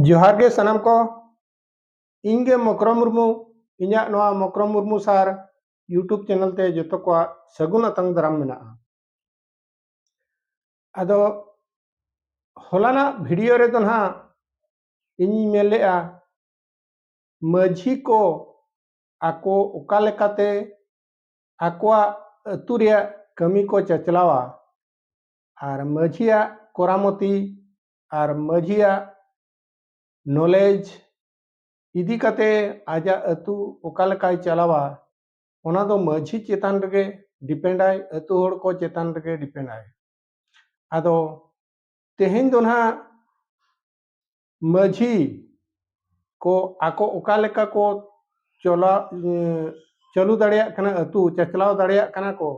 ᱡᱚᱦᱟᱨ ᱜᱮ ᱥᱟᱱᱟᱢ ᱠᱚ ᱤᱧ ᱜᱮ ᱢᱚᱠᱨᱚ ᱢᱩᱨᱢᱩ ᱤᱧᱟᱹᱜ ᱱᱚᱣᱟ Mokro Murmu sir YouTube channel ᱛᱮ ᱡᱚᱛᱚ ᱠᱚᱣᱟᱜ ᱥᱟᱹᱜᱩᱱ ᱟᱛᱟᱝ ᱫᱟᱨᱟᱢ ᱢᱮᱱᱟᱜᱼᱟ ᱟᱫᱚ ᱦᱚᱞᱟᱱᱟᱜ ᱵᱷᱤᱰᱤᱭᱳ ᱨᱮᱫᱚ ᱱᱟᱦᱟᱜ ᱤᱧᱤᱧ ᱢᱮᱱ ᱞᱮᱫᱼᱟ ᱢᱟᱹᱡᱷᱤ ᱠᱚ ᱟᱠᱚ ᱚᱠᱟ ᱞᱮᱠᱟᱛᱮ ᱟᱠᱚᱣᱟᱜ ᱟᱹᱛᱩ ᱨᱮᱭᱟᱜ ᱠᱟᱹᱢᱤ ᱠᱚ ᱪᱟᱪᱞᱟᱣᱟ ᱟᱨ ᱢᱟᱹᱡᱷᱤᱭᱟᱜ ᱠᱚᱨᱟᱢᱚᱛᱤ ᱟᱨ ᱢᱟᱹᱡᱷᱤᱭᱟᱜ ᱱᱚᱞᱮᱡᱽ ᱤᱫᱤ ᱠᱟᱛᱮ ᱟᱡᱟᱜ ᱟᱹᱛᱩ ᱚᱠᱟ ᱞᱮᱠᱟᱭ ᱪᱟᱞᱟᱣᱟ ᱚᱱᱟ ᱫᱚ ᱢᱟᱹᱡᱷᱤ ᱪᱮᱛᱟᱱ ᱨᱮᱜᱮ ᱰᱤᱯᱮᱱᱰᱟᱭ ᱟᱹᱛᱩ ᱦᱚᱲ ᱠᱚ ᱪᱮᱛᱟᱱ ᱨᱮᱜᱮ ᱰᱤᱯᱮᱱᱰᱟᱭ ᱟᱫᱚ ᱛᱮᱦᱮᱧ ᱫᱚ ᱱᱟᱦᱟᱜ ᱢᱟᱹᱡᱷᱤ ᱠᱚ ᱟᱠᱚ ᱚᱠᱟ ᱞᱮᱠᱟ ᱠᱚ ᱪᱚᱞᱟ ᱪᱟᱹᱞᱩ ᱫᱟᱲᱮᱭᱟᱜ ᱠᱟᱱᱟ ᱟᱹᱛᱩ ᱪᱟᱪᱞᱟᱣ ᱫᱟᱲᱮᱭᱟᱜ ᱠᱟᱱᱟ ᱠᱚ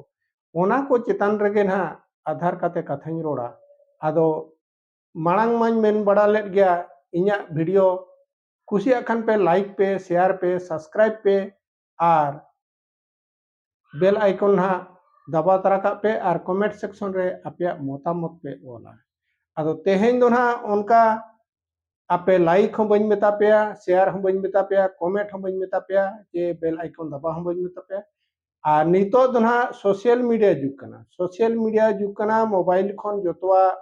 ᱚᱱᱟ ᱠᱚ ᱪᱮᱛᱟᱱ ᱨᱮᱜᱮ ᱱᱟᱦᱟᱜ ᱟᱫᱷᱟᱨ ᱠᱟᱛᱮ ᱠᱟᱛᱷᱟᱧ ᱨᱚᱲᱟ ᱟᱫᱚ ᱢᱟᱲᱟᱝ ᱢᱟᱧ ᱢᱮᱱ ᱵᱟᱲᱟ ᱞᱮᱫ ᱜᱮᱭᱟ ᱤᱧᱟᱹᱜ ᱵᱷᱤᱰᱤᱭᱳ ᱠᱩᱥᱤᱭᱟᱜ ᱠᱷᱟᱱ ᱯᱮ ᱞᱟᱭᱤᱠ ᱯᱮ ᱥᱮᱭᱟᱨ ᱯᱮ ᱥᱟᱵᱥᱠᱨᱟᱭᱤᱵ ᱯᱮ ᱟᱨ ᱵᱮᱞ ᱟᱭᱠᱚᱱ ᱦᱟᱸᱜ ᱫᱟᱵᱟᱣ ᱛᱟᱨᱟ ᱠᱟᱜ ᱯᱮ ᱟᱨ ᱠᱚᱢᱮᱱᱴ ᱥᱮᱠᱥᱚᱱ ᱨᱮ ᱟᱯᱮᱭᱟᱜ ᱢᱚᱛᱟᱢᱚᱛ ᱯᱮ ᱚᱞᱟ ᱟᱫᱚ ᱛᱮᱦᱮᱧ ᱫᱚ ᱦᱟᱸᱜ ᱚᱱᱠᱟ ᱟᱯᱮ ᱞᱟᱭᱤᱠ ᱦᱚᱸ ᱵᱟᱹᱧ ᱢᱮᱛᱟ ᱯᱮᱭᱟ ᱥᱮᱭᱟᱨ ᱦᱚᱸ ᱵᱟᱹᱧ ᱢᱮᱛᱟ ᱯᱮᱭᱟ ᱠᱚᱢᱮᱱᱴ ᱦᱚᱸ ᱵᱟᱹᱧ ᱢᱮᱛᱟ ᱯᱮᱭᱟ ᱡᱮ ᱵᱮᱞ ᱟᱭᱠᱚᱱ ᱫᱟᱵᱟᱣ ᱦᱚᱸ ᱵᱟᱹᱧ ᱢᱮᱛᱟ ᱯᱮᱭᱟ ᱟᱨ ᱱᱤᱛᱚᱜ ᱫᱚ ᱦᱟᱸᱜ ᱥᱳᱥᱤᱭᱟᱞ ᱢᱤᱰᱤᱭᱟ ᱡᱩᱜᱽ ᱠᱟᱱᱟ ᱥᱳᱥᱤᱭᱟᱞ ᱢᱤᱰᱤᱭᱟ ᱡᱩᱜᱽ ᱠᱟᱱᱟ ᱢᱳᱵᱟᱭᱤᱞ ᱠᱷᱚᱱ ᱡᱚᱛᱚᱣᱟᱜ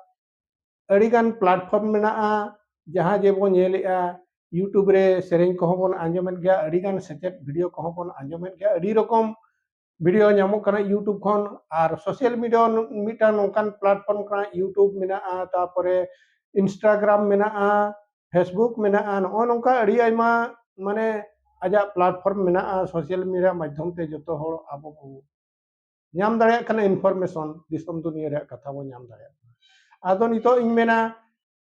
ᱟᱹᱰᱤᱜᱟᱱ ᱯᱞᱟᱴᱯᱷᱚᱨᱢ ᱢᱮᱱᱟᱜᱼᱟ ᱡᱟᱦᱟᱸ ᱡᱮ ᱵᱚᱱ ᱧᱮᱞᱮᱜᱼᱟ ᱤᱭᱩᱴᱩᱵᱽ ᱨᱮ ᱥᱮᱨᱮᱧ ᱠᱚᱦᱚᱸ ᱵᱚᱱ ᱟᱸᱡᱚᱢᱮᱫ ᱜᱮᱭᱟ ᱟᱹᱰᱤᱜᱟᱱ ᱥᱮᱪᱮᱫ ᱵᱷᱤᱰᱤᱭᱳ ᱠᱚᱦᱚᱸ ᱵᱚᱱ ᱟᱸᱡᱚᱢᱮᱫ ᱜᱮᱭᱟ ᱟᱹᱰᱤ ᱨᱚᱠᱚᱢ ᱵᱷᱤᱰᱤᱭᱳ ᱧᱟᱢᱚᱜ ᱠᱟᱱᱟ ᱤᱭᱩᱴᱩᱵᱽ ᱠᱷᱚᱱ ᱟᱨ ᱥᱳᱥᱟᱞ ᱢᱤᱰᱤᱭᱟ ᱢᱤᱫᱴᱟᱝ ᱱᱚᱝᱠᱟᱱ ᱯᱞᱟᱴᱯᱷᱚᱨᱢ ᱠᱟᱱᱟ ᱤᱭᱩᱴᱩᱵᱽ ᱢᱮᱱᱟᱜᱼᱟ ᱛᱟᱨᱯᱚᱨᱮ ᱤᱱᱥᱴᱟᱜᱨᱟᱢ ᱢᱮᱱᱟᱜᱼᱟ ᱯᱷᱮᱥᱵᱩᱠ ᱢᱮᱱᱟᱜᱼᱟ ᱱᱚᱜᱼᱚ ᱱᱚᱝᱠᱟ ᱟᱹᱰᱤ ᱟᱭᱢᱟ ᱢᱟᱱᱮ ᱟᱡᱟᱜ ᱯᱞᱟᱴᱯᱷᱚᱨᱢ ᱢᱮᱱᱟᱜᱼᱟ ᱥᱳᱥᱟᱞ ᱢᱤᱰᱤᱭᱟ ᱢᱟᱫᱽᱫᱷᱚᱢ ᱛᱮ ᱡᱚᱛᱚ ᱦᱚᱲ ᱟᱵᱚ ᱵᱚᱱ ᱧᱟᱢ ᱫᱟᱲᱮᱭᱟᱜ ᱠᱟᱱᱟ ᱤᱱᱯᱷᱚᱨᱢᱮᱥᱚᱱ ᱫᱤᱥᱚᱢ ᱫᱩᱱᱤᱭᱟᱹ ᱨᱮᱭᱟᱜ ᱠᱟᱛᱷᱟ ᱵᱚᱱ ᱧᱟᱢ ᱫᱟᱲᱮᱭᱟᱜ ᱠᱟᱱᱟ ᱟᱫᱚ ᱱᱤᱛᱚᱜ ᱤᱧ ᱢᱮᱱᱟ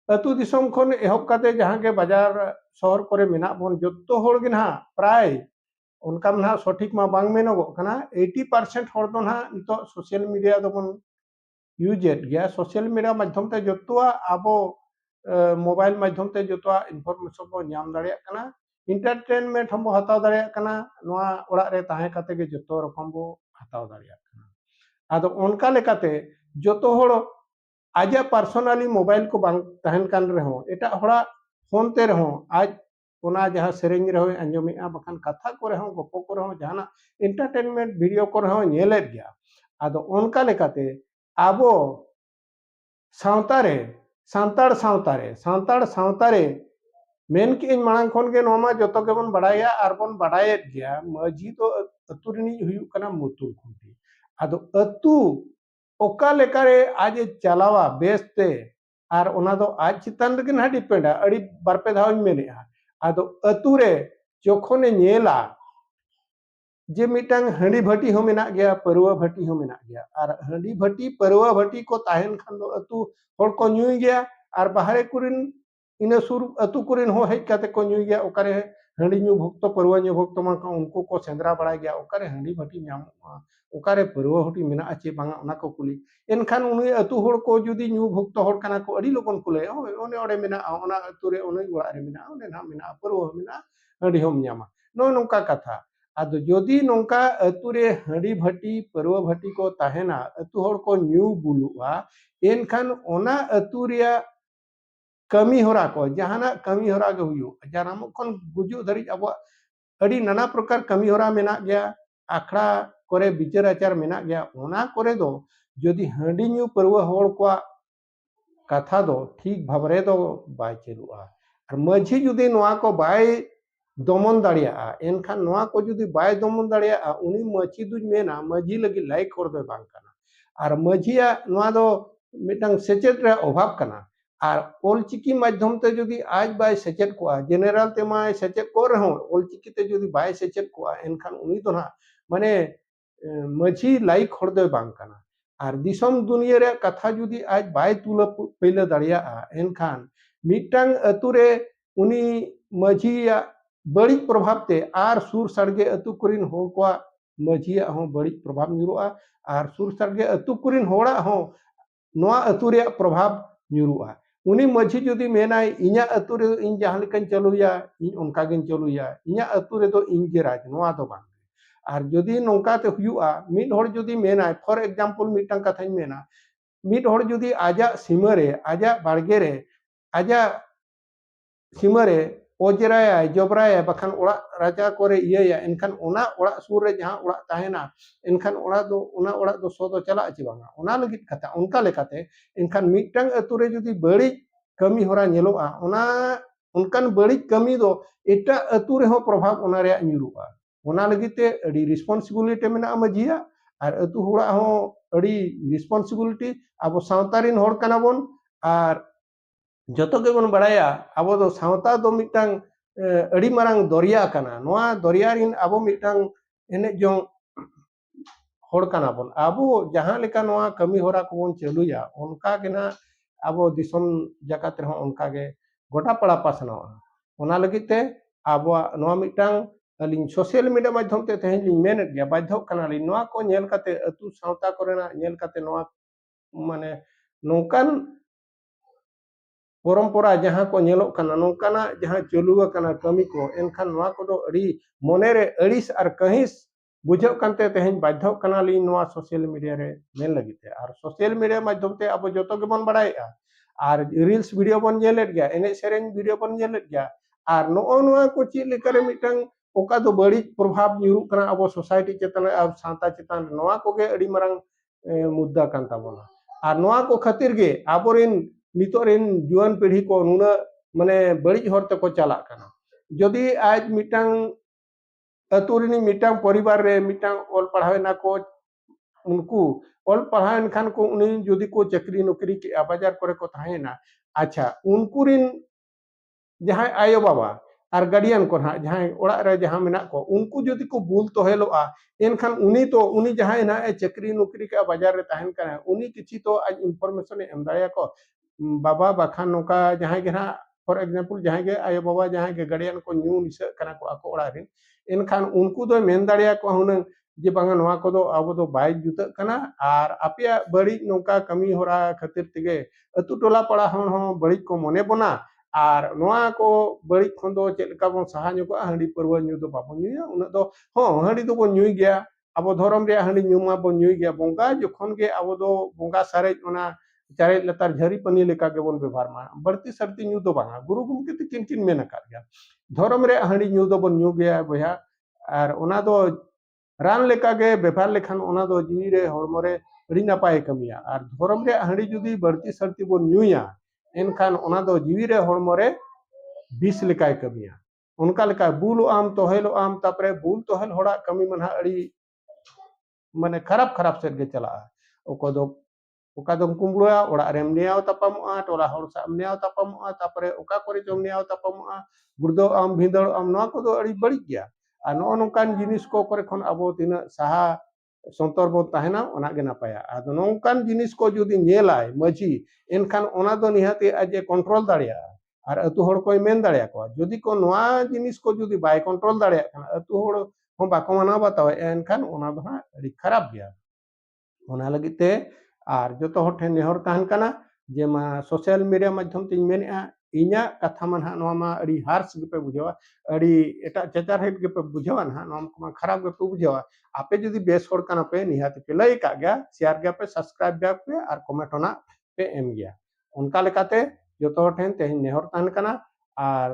ᱟᱹᱛᱩ ᱫᱤᱥᱚᱢ ᱠᱷᱚᱱ ᱮᱦᱚᱵ ᱠᱟᱛᱮ ᱡᱟᱦᱟᱸ ᱜᱮ ᱵᱟᱡᱟᱨ ᱥᱚᱦᱚᱨ ᱠᱚᱨᱮ ᱢᱮᱱᱟᱜ ᱵᱚᱱ ᱡᱚᱛᱚ ᱦᱚᱲ ᱜᱮ ᱱᱟᱦᱟᱜ ᱯᱨᱟᱭ ᱚᱱᱠᱟ ᱱᱟᱦᱟᱜ ᱥᱚᱴᱷᱤᱠ ᱢᱟ ᱵᱟᱝ ᱢᱮᱱᱚᱜᱚᱜ ᱠᱟᱱᱟ ᱮᱭᱤᱴᱤ ᱯᱟᱨᱥᱮᱱᱴ ᱦᱚᱲ ᱫᱚ ᱱᱟᱦᱟᱜ ᱱᱤᱛᱚᱜ ᱥᱳᱥᱟᱞ ᱢᱤᱰᱤᱭᱟ ᱫᱚᱵᱚᱱ ᱤᱭᱩᱡᱮᱫ ᱜᱮᱭᱟ ᱥᱳᱥᱟᱞ ᱢᱤᱰᱤᱭᱟ ᱢᱟᱫᱽᱫᱷᱚᱢ ᱛᱮ ᱡᱚᱛᱚᱣᱟᱜ ᱟᱵᱚ ᱢᱳᱵᱟᱭᱤᱞ ᱢᱟᱫᱽᱫᱷᱚᱢ ᱛᱮ ᱡᱚᱛᱚᱣᱟᱜ ᱤᱱᱯᱷᱚᱨᱢᱮᱥᱚᱱ ᱵᱚᱱ ᱧᱟᱢ ᱫᱟᱲᱮᱭᱟᱜ ᱠᱟᱱᱟ ᱤᱱᱴᱟᱨᱴᱮᱱᱢᱮᱱᱴ ᱦᱚᱸᱵᱚ ᱦᱟᱛᱟᱣ ᱫᱟᱲᱮᱭᱟᱜ ᱠᱟᱱᱟ ᱱᱚᱣᱟ ᱚᱲᱟᱜ ᱨᱮ ᱛᱟᱦᱮᱸ ᱠᱟᱛᱮ ᱜᱮ ᱡᱚᱛᱚ ᱨᱚᱠᱚᱢ ᱵᱚ ᱦᱟᱛᱟᱣ ᱫᱟᱲᱮᱭᱟᱜ ᱠᱟᱱᱟ ᱟᱫᱚ ᱚᱱᱠᱟ ᱞᱮᱠᱟᱛᱮ ᱡᱚᱛᱚ ᱦᱚᱲ ᱟᱡᱟᱜ ᱯᱟᱨᱥᱚᱱᱟᱞᱤ ᱢᱳᱵᱟᱭᱤᱞ ᱠᱚ ᱵᱟᱝ ᱛᱟᱦᱮᱱ ᱠᱟᱱ ᱨᱮᱦᱚᱸ ᱮᱴᱟᱜ ᱦᱚᱲᱟᱜ ᱯᱷᱳᱱ ᱛᱮ ᱨᱮᱦᱚᱸ ᱟᱡ ᱚᱱᱟ ᱡᱟᱦᱟᱸ ᱥᱮᱨᱮᱧ ᱨᱮᱦᱚᱸᱭ ᱟᱸᱡᱚᱢᱮᱜᱼᱟ ᱵᱟᱠᱷᱟᱱ ᱠᱟᱛᱷᱟ ᱠᱚᱨᱮ ᱦᱚᱸ ᱜᱚᱯᱚ ᱠᱚᱨᱮ ᱦᱚᱸ ᱡᱟᱦᱟᱱᱟᱜ ᱤᱱᱴᱟᱨᱴᱮᱱᱢᱮᱱᱴ ᱵᱷᱤᱰᱤᱭᱳ ᱠᱚᱨᱮ ᱦᱚᱸ ᱧᱮᱞᱮᱫ ᱜᱮᱭᱟ ᱟᱫᱚ ᱚᱱᱠᱟ ᱞᱮᱠᱟᱛᱮ ᱟᱵᱚ ᱥᱟᱶᱛᱟ ᱨᱮ ᱥᱟᱱᱛᱟᱲ ᱥᱟᱶᱛᱟ ᱨᱮ ᱥᱟᱱᱛᱟᱲ ᱥᱟᱶᱛᱟ ᱨᱮ ᱢᱮᱱ ᱠᱮᱜ ᱟᱹᱧ ᱢᱟᱲᱟᱝ ᱠᱷᱚᱱ ᱜᱮ ᱱᱚᱣᱟ ᱢᱟ ᱡᱚᱛᱚ ᱜᱮᱵᱚᱱ ᱵᱟᱲᱟᱭᱟ ᱟᱨ ᱵᱚᱱ ᱵᱟᱰᱟᱭᱮᱫ ᱜᱮᱭᱟ ᱢᱟᱹᱡᱷᱤ ᱫᱚ ᱟᱹᱛᱩ ᱨᱤᱱᱤᱡ ᱦᱩᱭᱩᱜ ᱠᱟᱱᱟ ᱢᱩᱛᱩᱞ ᱠᱷᱩᱱᱴᱤ ᱟᱫᱚ ᱟᱹᱛᱩ ᱚᱠᱟ ᱞᱮᱠᱟᱨᱮ ᱟᱡ ᱮ ᱪᱟᱞᱟᱣᱟ ᱵᱮᱥᱛᱮ ᱟᱨ ᱚᱱᱟ ᱫᱚ ᱟᱡ ᱪᱮᱛᱟᱱ ᱨᱮᱜᱮ ᱱᱟᱦᱟᱜ ᱰᱤᱯᱮᱱᱰᱟ ᱟᱹᱰᱤ ᱵᱟᱨ ᱯᱮ ᱫᱷᱟᱣ ᱤᱧ ᱢᱮᱱᱮᱜᱼᱟ ᱟᱫᱚ ᱟᱹᱛᱩ ᱨᱮ ᱡᱚᱠᱷᱚᱱᱮ ᱧᱮᱞᱟ ᱡᱮ ᱢᱤᱫᱴᱟᱝ ᱦᱟᱺᱰᱤ ᱵᱷᱟᱹᱴᱤ ᱦᱚᱸ ᱢᱮᱱᱟᱜ ᱜᱮᱭᱟ ᱯᱟᱹᱨᱣᱟᱹ ᱵᱷᱟᱹᱴᱤ ᱦᱚᱸ ᱢᱮᱱᱟᱜ ᱜᱮᱭᱟ ᱟᱨ ᱦᱟᱺᱰᱤ ᱵᱷᱟᱹᱴᱤ ᱯᱟᱹᱨᱣᱟᱹ ᱵᱷᱟᱹᱴᱤ ᱠᱚ ᱛᱟᱦᱮᱱ ᱠᱷᱟᱱ ᱫᱚ ᱟᱹᱛᱩ ᱦᱚᱲ ᱠᱚ ᱧᱩᱭ ᱜᱮᱭᱟ ᱟᱨ ᱵᱟᱦᱨᱮ ᱠᱚᱨᱮᱱ ᱤᱱᱟᱹ ᱥᱩᱨ ᱟᱹᱛᱩ ᱠᱚᱨᱮᱱ ᱦᱚᱸ ᱦᱮᱡ ᱠᱟᱛᱮ ᱠᱚ ᱧᱩᱭ ᱜᱮᱭᱟ ᱚᱠᱟᱨᱮ ᱦᱟᱺᱰᱤ ᱧᱩ ᱵᱷᱚᱠᱛᱚ ᱯᱟᱹᱨᱣᱟᱹ ᱧᱩ ᱵᱷᱚᱠᱛᱚ ᱢᱟ ᱩᱱᱠᱩ ᱠᱚ ᱥᱮᱸᱫᱽᱨᱟ ᱵᱟᱲᱟᱭ ᱜᱮᱭᱟ ᱚᱠᱟᱨᱮ ᱦᱟᱺᱰᱤ ᱵᱷᱟᱹᱴᱤ ᱧᱟᱢᱚᱜᱼᱟ ᱚᱠᱟᱨᱮ ᱯᱟᱹᱨᱣᱟᱹ ᱦᱚᱴᱤ ᱢᱮᱱᱟᱜᱼᱟ ᱪᱮ ᱵᱟᱝᱟ ᱚᱱᱟ ᱠᱚ ᱠᱩᱞᱤ ᱮᱱᱠᱷᱟᱱ ᱩᱱᱤ ᱟᱛᱳ ᱦᱚᱲ ᱠᱚ ᱡᱩᱫᱤ ᱧᱩ ᱵᱷᱩᱠᱛᱚ ᱦᱚᱲ ᱠᱟᱱᱟ ᱠᱚ ᱟᱹᱰᱤ ᱞᱚᱜᱚᱱ ᱠᱚ ᱞᱟᱹᱭᱟ ᱦᱳᱭ ᱚᱱᱮ ᱚᱸᱰᱮ ᱢᱮᱱᱟᱜᱼᱟ ᱚᱱᱟ ᱟᱛᱳ ᱨᱮ ᱩᱱᱤ ᱚᱲᱟᱜ ᱨᱮ ᱢᱮᱱᱟᱜᱼᱟ ᱚᱸᱰᱮ ᱱᱟᱦᱟᱜ ᱢᱮᱱᱟᱜᱼᱟ ᱯᱟᱹᱨᱣᱟᱹ ᱦᱚᱸ ᱢᱮᱱᱟᱜᱼᱟ ᱦᱟᱺᱰᱤ ᱦᱚᱸᱢ ᱧᱟᱢᱟ ᱱᱚᱜᱼᱚ ᱱᱚᱝᱠᱟ ᱠᱟᱛᱷᱟ ᱟᱫᱚ ᱡᱩᱫᱤ ᱱᱚᱝᱠᱟ ᱟᱛᱳ ᱨᱮ ᱦᱟᱺᱰᱤ ᱵᱷᱟᱹᱴᱤ ᱯᱟᱹᱨᱣᱟᱹ ᱵᱷᱟᱹᱴᱤ ᱠᱚ ᱛᱟᱦᱮᱱᱟ ᱟᱛᱳ ᱦᱚᱲ ᱠᱚ ᱧᱩ ᱵᱩᱞᱩᱜᱼᱟ ᱮᱱᱠᱷᱟᱱ ᱚᱱᱟ ᱟᱛᱳ ᱨᱮᱭᱟᱜ ᱠᱟᱹᱢᱤ ᱦᱚᱨᱟ ᱠᱚ ᱡᱟᱦᱟᱱᱟᱜ ᱠᱟᱹᱢᱤ ᱦᱚᱨᱟ ᱜᱮ ᱦᱩᱭᱩᱜ ᱡᱟᱱᱟᱢᱚᱜ ᱠᱷᱚᱱ ᱜᱩᱡᱩᱜ ᱫᱷᱟᱹᱨᱤᱡ ᱟᱵᱚᱣᱟᱜ ᱟᱹᱰᱤ ᱱᱟᱱᱟ ᱯᱨᱚᱠᱟᱨ ᱠᱟᱹᱢᱤ ᱦᱚᱨᱟ ᱢᱮᱱᱟᱜ ᱜᱮᱭᱟ ᱟᱠᱷᱲᱟ ᱠᱚᱨᱮ ᱵᱤᱪᱟᱹᱨ ᱟᱪᱟᱨ ᱢᱮᱱᱟᱜ ᱜᱮᱭᱟ ᱚᱱᱟ ᱠᱚᱨᱮ ᱫᱚ ᱡᱩᱫᱤ ᱦᱟᱺᱰᱤ ᱧᱩ ᱯᱟᱹᱨᱣᱟᱹ ᱦᱚᱲ ᱠᱚᱣᱟᱜ ᱠᱟᱛᱷᱟ ᱫᱚ ᱴᱷᱤᱠ ᱵᱷᱟᱵᱽᱨᱮ ᱫᱚ ᱵᱟᱭ ᱪᱟᱹᱞᱩᱜᱼᱟ ᱟᱨ ᱢᱟᱹᱡᱷᱤ ᱡᱩᱫᱤ ᱱᱚᱣᱟ ᱠᱚ ᱵᱟᱭ ᱫᱚᱢᱚᱱ ᱫᱟᱲᱮᱭᱟᱜᱼᱟ ᱮᱱᱠᱷᱟᱱ ᱱᱚᱣᱟ ᱠᱚ ᱡᱩᱫᱤ ᱵᱟᱭ ᱫᱚᱢᱚᱱ ᱫᱟᱲᱮᱭᱟᱜᱼᱟ ᱩᱱᱤ ᱢᱟᱹᱡᱷᱤ ᱫᱩᱧ ᱢᱮᱱᱟ ᱢᱟᱹᱡᱷᱤ ᱞᱟᱹᱜᱤᱫ ᱞᱟᱭᱤᱠ ᱦᱚᱲ ᱫᱚᱭ ᱵᱟᱝ ᱠᱟᱱᱟ ᱟᱨ ᱢᱟᱹᱡᱷᱤᱭᱟᱜ ᱱᱚᱣᱟ ᱫᱚ ᱢᱤᱫᱴᱟᱝ ᱥᱮᱪᱮᱫ ᱨᱮ ᱚᱵᱷᱟᱵᱽ ᱠᱟᱱᱟ ᱟᱨ ᱚᱞᱪᱤᱠᱤ ᱢᱟᱫᱽᱫᱷᱚᱢ ᱛᱮ ᱡᱩᱫᱤ ᱟᱡ ᱵᱟᱭ ᱥᱮᱪᱮᱫ ᱠᱚᱜᱼᱟ ᱡᱮᱱᱟᱨᱮᱞ ᱛᱮᱢᱟᱭ ᱥᱮᱪᱮᱫ ᱠᱚᱜ ᱨᱮᱦᱚᱸ ᱚᱞᱪᱤᱠᱤ ᱛᱮ ᱡᱩᱫᱤ ᱵᱟᱭ ᱥᱮᱪᱮᱫ ᱠᱚᱜᱼᱟ ᱮᱱᱠᱷᱟᱱ ᱩᱱᱤ ᱫᱚ ᱱᱟᱦᱟᱜ ᱢᱟᱱᱮ ᱢᱟᱹᱡᱷᱤ ᱞᱟᱭᱤᱠ ᱦᱚᱲ ᱫᱚᱭ ᱵᱟᱝ ᱠᱟᱱᱟ ᱟᱨ ᱫᱤᱥᱚᱢ ᱫᱩᱱᱤᱭᱟᱹ ᱨᱮᱭᱟᱜ ᱠᱟᱛᱷᱟ ᱡᱩᱫᱤ ᱟᱡ ᱵᱟᱭ ᱛᱩᱞᱟᱹ ᱯᱟᱹᱭᱞᱟᱹ ᱫᱟᱲᱮᱭᱟᱜᱼᱟ ᱮᱱᱠᱷᱟᱱ ᱢᱤᱫᱴᱟᱝ ᱟᱹᱛᱩ ᱨᱮ ᱩᱱᱤ ᱢᱟᱹᱡᱷᱤᱭᱟᱜ ᱵᱟᱹᱲᱤᱡ ᱯᱨᱚᱵᱷᱟᱵᱽ ᱛᱮ ᱟᱨ ᱥᱩᱨ ᱥᱟᱰᱜᱮ ᱟᱹᱛᱩ ᱠᱚᱨᱮᱱ ᱦᱚᱲ ᱠᱚᱣᱟᱜ ᱢᱟᱹᱡᱷᱤᱭᱟᱜ ᱦᱚᱸ ᱵᱟᱹᱲᱤᱡ ᱯᱨᱚᱵᱷᱟᱵᱽ ᱧᱩᱨᱩᱜᱼᱟ ᱟᱨ ᱥᱩᱨ ᱥᱟᱰᱜᱮ ᱟᱹᱛᱩ ᱠᱚᱨᱮᱱ ᱦᱚᱲᱟᱜ ᱦᱚᱸ ᱱᱚᱣᱟ ᱟᱹᱛᱩ ᱨᱮᱭᱟᱜ ᱯᱨᱚᱵᱷᱟᱵᱽ ᱧᱩᱨᱩᱜᱼᱟ ᱩᱱᱤ ᱢᱟᱹᱡᱷᱤ ᱡᱩᱫᱤ ᱢᱮᱱᱟᱭ ᱤᱧᱟᱹᱜ ᱟᱹᱛᱩ ᱨᱮᱫᱚ ᱤᱧ ᱡᱟᱦᱟᱸ ᱞᱮᱠᱟᱧ ᱪᱟᱹᱞᱩᱭᱟ ᱤᱧ ᱚᱱᱠᱟ ᱜᱤᱧ ᱪᱟᱹᱞᱩᱭᱟ ᱤᱧᱟᱹᱜ ᱟᱹᱛᱩ ᱨᱮᱫᱚ ᱤᱧ ᱜᱮ ᱨᱟᱡᱽ ᱱᱚᱣᱟ ᱫᱚ ᱵᱟᱝ ᱟᱨ ᱡᱩᱫᱤ ᱱᱚᱝᱠᱟᱛᱮ ᱦᱩᱭᱩᱜᱼᱟ ᱢᱤᱫ ᱦᱚᱲ ᱡᱩᱫᱤ ᱢᱮᱱᱟᱭ ᱯᱷᱚᱨ ᱮᱠᱡᱟᱢᱯᱚᱞ ᱢᱤᱫᱴᱟᱝ ᱠᱟᱛᱷᱟᱧ ᱢᱮᱱᱟ ᱢᱤᱫ ᱦᱚᱲ ᱡᱩᱫᱤ ᱟᱡᱟᱜ ᱥᱤᱢᱟᱹ ᱨᱮ ᱟᱡᱟᱜ ᱵᱟᱲᱜᱮ ᱨᱮ ᱟᱡᱟᱜ ᱥᱤᱢᱟᱹ ᱨᱮ ᱚᱡᱽᱨᱟᱭᱟᱭ ᱡᱚᱵᱽᱨᱟᱭᱟᱭ ᱵᱟᱠᱷᱟᱱ ᱚᱲᱟᱜ ᱨᱟᱪᱟ ᱠᱚᱨᱮ ᱤᱭᱟᱹᱭᱟ ᱮᱱᱠᱷᱟᱱ ᱚᱱᱟ ᱚᱲᱟᱜ ᱥᱩᱨ ᱨᱮ ᱡᱟᱦᱟᱸ ᱚᱲᱟᱜ ᱛᱟᱦᱮᱱᱟ ᱮᱱᱠᱷᱟᱱ ᱚᱱᱟ ᱫᱚ ᱚᱱᱟ ᱚᱲᱟᱜ ᱫᱚ ᱥᱚ ᱫᱚ ᱪᱟᱞᱟᱜ ᱟᱪᱮ ᱵᱟᱝᱟ ᱚᱱᱟ ᱞᱟᱹᱜᱤᱫ ᱠᱟᱛᱷᱟ ᱚᱱᱠᱟ ᱞᱮᱠᱟᱛᱮ ᱮᱱᱠᱷᱟᱱ ᱢᱤᱫᱴᱟᱝ ᱟᱹᱛᱩ ᱨᱮ ᱡᱩᱫᱤ ᱵᱟᱹᱲᱤᱡ ᱠᱟᱹᱢᱤ ᱦᱚᱨᱟ ᱧᱮᱞᱚᱜᱼᱟ ᱚᱱᱟ ᱚᱱᱠᱟᱱ ᱵᱟᱹᱲᱤᱡ ᱠᱟᱹᱢᱤ ᱫᱚ ᱮᱴᱟᱜ ᱟᱹᱛᱩ ᱨᱮᱦᱚᱸ ᱯᱨᱚᱵᱷᱟᱵᱽ ᱚᱱᱟ ᱨᱮᱭᱟᱜ ᱧᱩᱨᱩᱜᱼᱟ ᱚᱱᱟ ᱞᱟᱹᱜᱤᱫ ᱛᱮ ᱟᱹᱰᱤ ᱨᱮᱥᱯᱚᱱᱥᱤᱵᱤᱞᱤᱴᱤ ᱢᱮᱱᱟᱜᱼᱟ ᱢᱟᱹᱡᱷᱤᱭᱟᱜ ᱟᱨ ᱟᱹᱛᱩ ᱦᱚᱲᱟᱜ ᱦᱚᱸ ᱟᱹᱰᱤ ᱨᱮᱥᱯᱚᱱᱥᱤᱵᱤᱞᱤᱴᱤ ᱟᱵᱚ ᱥᱟᱶᱛᱟ ᱨᱮᱱ ᱦᱚᱲ ᱠᱟᱱᱟ ᱵᱚᱱ ᱟᱨ ᱡᱚᱛᱚ ᱜᱮᱵᱚᱱ ᱵᱟᱲᱟᱭᱟ ᱟᱵᱚ ᱫᱚ ᱥᱟᱶᱛᱟ ᱫᱚ ᱢᱤᱫᱴᱟᱝ ᱟᱹᱰᱤ ᱢᱟᱨᱟᱝ ᱫᱚᱨᱭᱟ ᱠᱟᱱᱟ ᱱᱚᱣᱟ ᱫᱚᱨᱭᱟ ᱨᱤᱱ ᱟᱵᱚ ᱢᱤᱫᱴᱟᱝ ᱮᱱᱮᱡ ᱡᱚᱝ ᱦᱚᱲ ᱠᱟᱱᱟ ᱵᱚᱱ ᱟᱵᱚ ᱡᱟᱦᱟᱸ ᱞᱮᱠᱟ ᱱᱚᱣᱟ ᱠᱟᱹᱢᱤ ᱦᱚᱨᱟ ᱠᱚᱵᱚᱱ ᱪᱟᱹᱞᱩᱭᱟ ᱚᱱᱠᱟ ᱜᱮ ᱱᱟᱜ ᱟᱵᱚ ᱫᱤᱥᱚᱢ ᱡᱟᱠᱟᱛ ᱨᱮᱦᱚᱸ ᱚᱱᱠᱟ ᱜᱮ ᱜᱚᱴᱟ ᱯᱟᱲᱟ ᱯᱟᱥᱱᱟᱣᱟ ᱚᱱᱟ ᱞᱟᱹᱜᱤᱫ ᱛᱮ ᱟᱵᱚᱣᱟᱜ ᱱᱚᱣᱟ ᱢᱤᱫᱴᱟᱝ ᱟᱹᱞᱤᱧ ᱥᱳᱥᱟᱞ ᱢᱤᱰᱤᱭᱟ ᱢᱟᱫᱽᱫᱷᱚᱢ ᱛᱮ ᱛᱮᱦᱮᱧ ᱞᱤᱧ ᱢᱮᱱᱮᱫ ᱜᱮᱭᱟ ᱵᱟᱫᱽᱫᱷᱚᱜ ᱠᱟᱱᱟᱞᱤᱧ ᱱᱚᱣᱟ ᱠᱚ ᱧᱮᱞ ᱠᱟᱛᱮ ᱟᱹᱛᱩ ᱥᱟᱶᱛᱟ ᱠᱚᱨᱮᱱᱟᱜ ᱧᱮᱞ ᱠᱟᱛᱮ ᱱᱚᱣᱟ ᱢᱟᱱᱮ ᱱᱚᱝᱠᱟᱱ ᱯᱚᱨᱚᱢᱯᱚᱨᱟ ᱡᱟᱦᱟᱸ ᱠᱚ ᱧᱮᱞᱚᱜ ᱠᱟᱱᱟ ᱱᱚᱝᱠᱟᱱᱟᱜ ᱡᱟᱦᱟᱸ ᱪᱟᱹᱞᱩ ᱟᱠᱟᱱᱟ ᱠᱟᱹᱢᱤ ᱠᱚ ᱮᱱᱠᱷᱟᱱ ᱱᱚᱣᱟ ᱠᱚᱫᱚ ᱟᱹᱰᱤ ᱢᱚᱱᱮᱨᱮ ᱟᱹᱲᱤᱥ ᱟᱨ ᱠᱟᱹᱦᱤᱥ ᱵᱩᱡᱷᱟᱹᱜ ᱠᱟᱱᱛᱮ ᱛᱮᱦᱮᱧ ᱵᱟᱫᱽᱫᱷᱚᱜ ᱠᱟᱱᱟᱞᱤᱧ ᱱᱚᱣᱟ ᱥᱳᱥᱟᱞ ᱢᱤᱰᱤᱭᱟ ᱨᱮ ᱢᱮᱱ ᱞᱟᱹᱜᱤᱫ ᱛᱮ ᱟᱨ ᱥᱳᱥᱟᱞ ᱢᱤᱰᱤᱭᱟ ᱢᱟᱫᱽᱫᱷᱚᱢ ᱛᱮ ᱟᱵᱚ ᱡᱚᱛᱚ ᱜᱮᱵᱚᱱ ᱵᱟᱲᱟᱭᱮᱜᱼᱟ ᱟᱨ ᱨᱤᱞᱥ ᱵᱷᱤᱰᱤᱭᱳ ᱵᱚᱱ ᱧᱮᱞᱮᱫ ᱜᱮᱭᱟ ᱮᱱᱮᱡ ᱥᱮᱨᱮᱧ ᱵᱷᱤᱰᱤᱭᱳ ᱵᱚᱱ ᱧᱮᱞᱮᱫ ᱜᱮᱭᱟ ᱟᱨ ᱱᱚᱜᱼᱚ ᱱᱚᱣᱟ ᱠᱚ ᱪᱮᱫ ᱞᱮᱠᱟᱨᱮ ᱢᱤᱫᱴᱟᱝ ᱚᱠᱟ ᱫᱚ ᱵᱟᱹᱲᱤᱡ ᱯᱨᱚᱵᱷᱟᱵᱽ ᱧᱩᱨᱩᱜ ᱠᱟᱱᱟ ᱟᱵᱚ ᱥᱳᱥᱟᱭᱴᱤ ᱪᱮᱛᱟᱱ ᱨᱮ ᱟᱵᱚ ᱥᱟᱶᱛᱟ ᱪᱮᱛᱟᱱ ᱨᱮ ᱱᱚᱣᱟ ᱠᱚᱜᱮ ᱟᱹᱰᱤ ᱢᱟᱨᱟᱝ ᱢᱩᱫᱽᱫᱟ ᱠᱟᱱ ᱛᱟᱵᱚᱱᱟ ᱟᱨ ᱱᱚᱣᱟ ᱠᱚ ᱠᱷᱟᱹᱛᱤᱨ ᱜᱮ ᱟᱵᱚᱨᱮᱱ ᱱᱤᱛᱚᱜ ᱨᱮᱱ ᱡᱩᱣᱟᱹᱱ ᱯᱤᱲᱦᱤ ᱠᱚ ᱱᱩᱱᱟᱹᱜ ᱢᱟᱱᱮ ᱵᱟᱹᱲᱤᱡ ᱦᱚᱨ ᱛᱮᱠᱚ ᱪᱟᱞᱟᱜ ᱠᱟᱱᱟ ᱡᱩᱫᱤ ᱟᱡ ᱢᱤᱫᱴᱟᱝ ᱟᱹᱛᱩ ᱨᱤᱱᱤᱡ ᱢᱤᱫᱴᱟᱝ ᱯᱚᱨᱤᱵᱟᱨ ᱨᱮ ᱢᱤᱫᱴᱟᱝ ᱚᱞ ᱯᱟᱲᱦᱟᱣ ᱮᱱᱟ ᱠᱚ ᱩᱱᱠᱩ ᱚᱞ ᱯᱟᱲᱦᱟᱣ ᱮᱱᱠᱷᱟᱱ ᱠᱚ ᱩᱱᱤ ᱡᱩᱫᱤ ᱠᱚ ᱪᱟᱹᱠᱨᱤ ᱱᱚᱠᱨᱤ ᱠᱮᱜᱼᱟ ᱵᱟᱡᱟᱨ ᱠᱚᱨᱮ ᱠᱚ ᱛᱟᱦᱮᱸᱭᱮᱱᱟ ᱟᱪᱪᱷᱟ ᱩᱱᱠᱩ ᱨᱤᱱ ᱡᱟᱦᱟᱸᱭ ᱟᱭᱳ ᱵᱟᱵᱟ ᱟᱨ ᱜᱟᱨᱰᱤᱭᱟᱱ ᱠᱚ ᱱᱟᱦᱟᱜ ᱡᱟᱦᱟᱸᱭ ᱚᱲᱟᱜ ᱨᱮ ᱡᱟᱦᱟᱸ ᱢᱮᱱᱟᱜ ᱠᱚ ᱩᱱᱠᱩ ᱡᱩᱫᱤ ᱠᱚ ᱵᱩᱞ ᱛᱚᱦᱮᱞᱚᱜᱼᱟ ᱮᱱᱠᱷᱟᱱ ᱩᱱᱤ ᱛᱚ ᱩᱱᱤ ᱡᱟᱦᱟᱸᱭ ᱱᱟᱦᱟᱜ ᱮ ᱪᱟᱹᱠᱨᱤ ᱱᱚᱠᱨᱤ ᱠᱟᱜᱼᱟ ᱵᱟᱡᱟᱨ ᱨᱮ ᱛᱟᱦᱮᱱ ᱠᱟᱱᱟ ᱩᱱᱤ ᱠᱤᱪᱷᱤ ᱛᱚ ᱟᱡ ᱤᱱᱯᱷᱚᱨᱢᱮᱥᱚᱱ ᱮ ᱮᱢ ᱫᱟᱲᱮᱭᱟᱠᱚ ᱵᱟᱵᱟ ᱵᱟᱠᱷᱟᱱ ᱱᱚᱝᱠᱟ ᱡᱟᱦᱟᱸᱭ ᱜᱮ ᱱᱟᱦᱟᱜ ᱯᱷᱚᱨ ᱮᱠᱡᱟᱢᱯᱚᱞ ᱡᱟᱦᱟᱸᱭ ᱜᱮ ᱟᱭᱳ ᱵᱟᱵᱟ ᱡᱟᱦᱟᱸᱭ ᱜᱮ ᱜᱟᱨᱰᱤᱭᱟᱱ ᱠᱚ ᱧᱩ ᱱᱤᱥᱟᱹᱜ ᱠᱟᱱᱟ ᱠᱚ ᱟᱠᱚ ᱚᱲᱟᱜ ᱨᱮ ᱮᱱᱠᱷᱟᱱ ᱩᱱᱠᱩ ᱫᱚᱭ ᱢᱮᱱ ᱫᱟᱲᱮᱭᱟᱠᱚ ᱦᱩᱱᱟᱹᱝ ᱡᱮ ᱵᱟᱝᱟ ᱱᱚᱣᱟ ᱠᱚᱫᱚ ᱟᱵᱚ ᱫᱚ ᱵᱟᱭ ᱡᱩᱛᱟᱹᱜ ᱠᱟᱱᱟ ᱟᱨ ᱟᱯᱮᱭᱟᱜ ᱵᱟᱹᱲᱤᱡ ᱱᱚᱝᱠᱟ ᱠᱟᱹᱢᱤ ᱦᱚᱨᱟ ᱠᱷᱟᱹᱛᱤᱨ ᱛᱮᱜᱮ ᱟᱹᱛᱩ ᱴᱚᱞᱟ ᱯᱟᱲᱟ ᱦᱚᱲ ᱦᱚᱸ ᱵᱟᱹᱲᱤᱡ ᱠᱚ ᱢᱚᱱᱮ ᱵᱚᱱᱟ ᱟᱨ ᱱᱚᱣᱟ ᱠᱚ ᱵᱟᱹᱲᱤᱡ ᱠᱷᱚᱱ ᱫᱚ ᱪᱮᱫ ᱞᱮᱠᱟ ᱵᱚᱱ ᱥᱟᱦᱟ ᱧᱚᱜᱚᱜᱼᱟ ᱦᱟᱺᱰᱤ ᱯᱟᱹᱨᱣᱟᱹ ᱧᱩ ᱫᱚ ᱵᱟᱵᱚᱱ ᱧᱩᱭᱟ ᱩᱱᱟᱹᱜ ᱫᱚ ᱦᱚᱸ ᱦᱟᱺᱰᱤ ᱫᱚᱵᱚᱱ ᱧᱩᱭ ᱜᱮᱭᱟ ᱟᱵᱚ ᱫᱷᱚᱨᱚᱢ ᱨᱮᱭᱟᱜ ᱦᱟᱺᱰᱤ ᱧᱩ ᱢᱟᱵᱚᱱ ᱧᱩᱭ ᱜᱮᱭᱟ ᱵᱚᱸᱜᱟ ᱡᱚᱠᱷᱚᱱ ᱜᱮ ᱟᱵᱚ ᱫᱚ ᱵᱚᱸᱜᱟ ᱥᱟᱨᱮᱡ ᱚᱱᱟ ᱪᱟᱨᱮᱡ ᱞᱟᱛᱟᱨ ᱡᱷᱟᱹᱨᱤ ᱯᱟᱹᱱᱤ ᱞᱮᱠᱟ ᱜᱮᱵᱚᱱ ᱵᱮᱵᱷᱟᱨ ᱢᱟ ᱵᱟᱹᱲᱛᱤ ᱥᱟᱹᱲᱛᱤ ᱧᱩ ᱫᱚ ᱵᱟᱝᱟ ᱜᱩᱨᱩ ᱜᱚᱢᱠᱮ ᱛᱤᱠᱤᱱ ᱠᱤᱱ ᱢᱮᱱ ᱟᱠᱟᱫ ᱜᱮᱭᱟ ᱫᱷᱚᱨᱚᱢ ᱨᱮᱭᱟᱜ ᱦᱟᱺᱰᱤ ᱧᱩ ᱫᱚᱵᱚᱱ ᱧᱩ ᱜᱮᱭᱟ ᱵᱚᱭᱦᱟ ᱟᱨ ᱚᱱᱟ ᱫᱚ ᱨᱟᱱ ᱞᱮᱠᱟᱜᱮ ᱵᱮᱵᱷᱟᱨ ᱞᱮᱠᱷᱟᱱ ᱚᱱᱟ ᱫᱚ ᱡᱤᱣᱤ ᱨᱮ ᱦᱚᱲᱢᱚ ᱨᱮ ᱟᱹᱰᱤ ᱱᱟᱯᱟᱭ ᱠᱟᱹᱢᱤᱭᱟ ᱟᱨ ᱫᱷᱚᱨᱚᱢ ᱨᱮᱭᱟᱜ ᱦᱟᱺᱰᱤ ᱡᱩᱫᱤ ᱵᱟᱹᱲᱛᱤ ᱥᱟᱹᱲᱛᱤ ᱵᱚᱱ ᱧᱩᱭᱟ ᱮᱱᱠᱷᱟᱱ ᱚᱱᱟ ᱫᱚ ᱡᱤᱣᱤ ᱨᱮ ᱦᱚᱲᱢᱚ ᱨᱮ ᱵᱤᱥ ᱞᱮᱠᱟᱭ ᱠᱟᱹᱢᱤᱭᱟ ᱚᱱᱠᱟ ᱞᱮᱠᱟ ᱵᱩᱞᱚᱜ ᱟᱢ ᱛᱚᱦᱮᱞᱚᱜ ᱟᱢ ᱛᱟᱯᱚᱨᱮ ᱵᱩᱞ ᱛᱚᱦᱮᱞ ᱦᱚᱲᱟᱜ ᱠᱟᱹᱢᱤ ᱢᱟ ᱱᱟᱦᱟᱜ ᱟᱹᱰᱤ ᱢᱟᱱᱮ ᱠᱷᱟᱨᱟᱯ ᱠᱷᱟᱨᱟᱯ ᱥᱮᱫ ᱜᱮ ᱪᱟᱞᱟᱜᱼᱟ ᱚᱠᱚᱭ ᱫᱚ ᱚᱠᱟ ᱫᱚᱢ ᱠᱩᱢᱵᱽᱲᱩᱭᱟ ᱚᱲᱟᱜ ᱨᱮᱢ ᱱᱮᱭᱟᱣ ᱛᱟᱯᱟᱢᱚᱜᱼᱟ ᱴᱚᱞᱟ ᱦᱚᱲ ᱥᱟᱶ ᱮᱢ ᱱᱮᱭᱟᱣ ᱛᱟᱯᱟᱢᱚᱜᱼᱟ ᱛᱟᱨᱯᱚᱨᱮ ᱚᱠᱟ ᱠᱚᱨᱮ ᱪᱚᱢ ᱱᱮᱭᱟᱣ ᱛᱟᱯᱟᱢᱚᱜᱼᱟ ᱜᱩᱲᱫᱟᱹᱣ ᱟᱢ ᱵᱷᱤᱸᱫᱟᱹᱲᱚᱜ ᱟᱢ ᱱᱚᱣᱟ ᱠᱚᱫᱚ ᱟᱹᱰᱤ ᱵᱟᱹᱲᱤᱡ ᱜᱮᱭᱟ ᱟᱨ ᱱᱚᱜᱼᱚ ᱱᱚᱝᱠᱟᱱ ᱡᱤᱱᱤᱥ ᱠᱚ ᱠᱚᱨᱮ ᱠᱷᱚᱱ ᱟᱵᱚ ᱛᱤᱱᱟᱹᱜ ᱥᱟᱦᱟ ᱥᱚᱱᱛᱚᱨ ᱵᱚᱱ ᱛᱟᱦᱮᱱᱟ ᱚᱱᱟ ᱜᱮ ᱱᱟᱯᱟᱭᱟ ᱟᱫᱚ ᱱᱚᱝᱠᱟᱱ ᱡᱤᱱᱤᱥ ᱠᱚ ᱡᱩᱫᱤ ᱧᱮᱞᱟᱭ ᱢᱟᱺᱡᱷᱤ ᱮᱱᱠᱷᱟᱱ ᱚᱱᱟ ᱫᱚ ᱱᱤᱦᱟᱹᱛᱤ ᱟᱡ ᱮ ᱠᱚᱱᱴᱨᱳᱞ ᱫᱟᱲᱮᱭᱟᱜᱼᱟ ᱟᱨ ᱟᱹᱛᱩ ᱦᱚᱲ ᱠᱚᱭ ᱢᱮᱱ ᱫᱟᱲᱮᱭᱟᱠᱚᱣᱟ ᱡᱩᱫᱤ ᱠᱚ ᱱᱚᱣᱟ ᱡᱤᱱᱤᱥ ᱠᱚ ᱡᱩᱫᱤ ᱵᱟᱭ ᱠᱚᱱᱴᱨᱳᱞ ᱫᱟᱲᱮᱭᱟᱜ ᱠᱟᱱᱟ ᱟᱹᱛᱩ ᱦᱚᱲ ᱦᱚᱸ ᱵᱟᱠᱚ ᱢᱟᱱᱟᱣ ᱵᱟᱛᱟᱣᱮᱫᱼᱟ ᱮᱱᱠᱷᱟᱱ ᱚᱱᱟ ᱫᱚ ᱦᱟᱸᱜ ᱟᱹᱰᱤ ᱠᱷᱟᱨᱟᱯ ᱜᱮᱭᱟ ᱚᱱᱟ ᱞᱟᱹᱜᱤᱫ ᱛᱮ ᱟᱨ ᱡᱚᱛᱚ ᱦᱚᱲ ᱴᱷᱮᱱ ᱱᱮᱦᱚᱨ ᱛᱟᱦᱮᱱ ᱠᱟᱱᱟ ᱡᱮ ᱢᱟ ᱥᱳᱥᱟᱞ ᱢᱤᱰᱤᱭᱟ ᱢᱟᱫᱽᱫᱷᱚᱢ ᱛᱮᱧ ᱢᱮᱱᱮᱫᱼᱟ ᱤᱧᱟᱹᱜ ᱠᱟᱛᱷᱟ ᱢᱟ ᱱᱟᱦᱟᱜ ᱱᱚᱣᱟ ᱢᱟ ᱟᱹᱰᱤ ᱦᱟᱨᱥ ᱜᱮᱯᱮ ᱵᱩᱡᱷᱟᱹᱣᱟ ᱟᱹᱰᱤ ᱮᱴᱟᱜ ᱪᱟᱪᱟᱨᱦᱮᱫ ᱜᱮᱯᱮ ᱵᱩᱡᱷᱟᱹᱣᱟ ᱱᱟᱦᱟᱜ ᱱᱚᱣᱟ ᱠᱚᱢᱟ ᱠᱷᱟᱨᱟᱯ ᱜᱮᱯᱮ ᱵᱩᱡᱷᱟᱹᱣᱟ ᱟᱯᱮ ᱡᱩᱫᱤ ᱵᱮᱥ ᱦᱚᱲ ᱠᱟᱱᱟ ᱯᱮ ᱱᱤᱦᱟᱹᱛ ᱯᱮ ᱞᱟᱹᱭ ᱟᱠᱟᱫ ᱜᱮᱭᱟ ᱥᱮᱭᱟᱨ ᱜᱮᱭᱟ ᱯᱮ ᱥᱟᱵᱥᱠᱨᱟᱭᱤᱵᱽ ᱜᱮᱭᱟ ᱯᱮ ᱟᱨ ᱠᱚᱢᱮᱱᱴ ᱦᱚᱸ ᱱᱟᱦᱟᱜ ᱯᱮ ᱮᱢ ᱜᱮᱭᱟ ᱚᱱᱠᱟ ᱞᱮᱠᱟᱛᱮ ᱡᱚᱛᱚ ᱦᱚᱲ ᱴᱷᱮᱱ ᱛᱮᱦᱮᱧ ᱱᱮᱦᱚᱨ ᱛᱟᱦᱮᱱ ᱠᱟᱱᱟ ᱟᱨ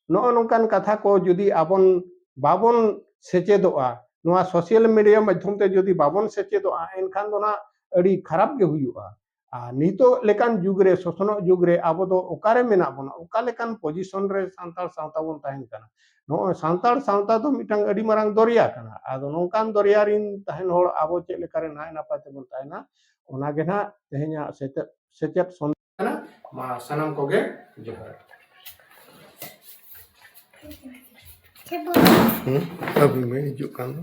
ᱱᱚᱜᱼᱚ ᱱᱚᱝᱠᱟᱱ ᱠᱟᱛᱷᱟ ᱠᱚ ᱡᱩᱫᱤ ᱟᱵᱚᱱ ᱵᱟᱵᱚᱱ ᱥᱮᱪᱮᱫᱚᱜᱼᱟ ᱱᱚᱣᱟ ᱥᱳᱥᱤᱭᱟᱞ ᱢᱤᱰᱤᱭᱟ ᱢᱟᱫᱽᱫᱷᱚᱢ ᱛᱮ ᱡᱩᱫᱤ ᱵᱟᱵᱚᱱ ᱥᱮᱪᱮᱫᱚᱜᱼᱟ ᱮᱱᱠᱷᱟᱱ ᱫᱚ ᱱᱟᱜ ᱟᱹᱰᱤ ᱠᱷᱟᱨᱟᱯ ᱜᱮ ᱦᱩᱭᱩᱜᱼᱟ ᱟᱨ ᱱᱤᱛᱚᱜ ᱞᱮᱠᱟᱱ ᱡᱩᱜᱽ ᱨᱮ ᱥᱚᱥᱱᱚᱜ ᱡᱩᱜᱽ ᱨᱮ ᱟᱵᱚ ᱫᱚ ᱚᱠᱟᱨᱮ ᱢᱮᱱᱟᱜ ᱵᱚᱱᱟ ᱚᱠᱟ ᱞᱮᱠᱟᱱ ᱯᱚᱡᱤᱥᱚᱱ ᱨᱮ ᱥᱟᱱᱛᱟᱲ ᱥᱟᱶᱛᱟ ᱵᱚᱱ ᱛᱟᱦᱮᱱ ᱠᱟᱱᱟ ᱱᱚᱜᱼᱚᱭ ᱥᱟᱱᱛᱟᱲ ᱥᱟᱶᱛᱟ ᱫᱚ ᱢᱤᱫᱴᱟᱝ ᱟᱹᱰᱤ ᱢᱟᱨᱟᱝ ᱫᱚᱨᱭᱟ ᱠᱟᱱᱟ ᱟᱫᱚ ᱱᱚᱝᱠᱟᱱ ᱫᱚᱨᱭᱟ ᱨᱤᱱ ᱛᱟᱦᱮᱱ ᱦᱚᱲ ᱟᱵᱚ ᱪᱮᱫ ᱞᱮᱠᱟᱨᱮ ᱱᱟᱭ ᱱᱟᱯᱟᱭ ᱛᱮᱵᱚᱱ ᱛᱟᱦᱮᱱᱟ ᱚᱱᱟᱜᱮ ᱱᱟᱜ ᱛᱮᱦᱮᱧᱟᱜ ᱥᱮᱪᱮᱫ ᱥᱮᱪᱮᱫ ᱠᱟᱱᱟ ᱢᱟ ᱥᱟᱱᱟᱢ ᱠᱚᱜᱮ ᱡᱚᱦᱟᱨ ᱟᱹᱵᱤᱱ ᱢᱮ ᱦᱤᱡᱩᱜ ᱠᱟᱱ ᱫᱚ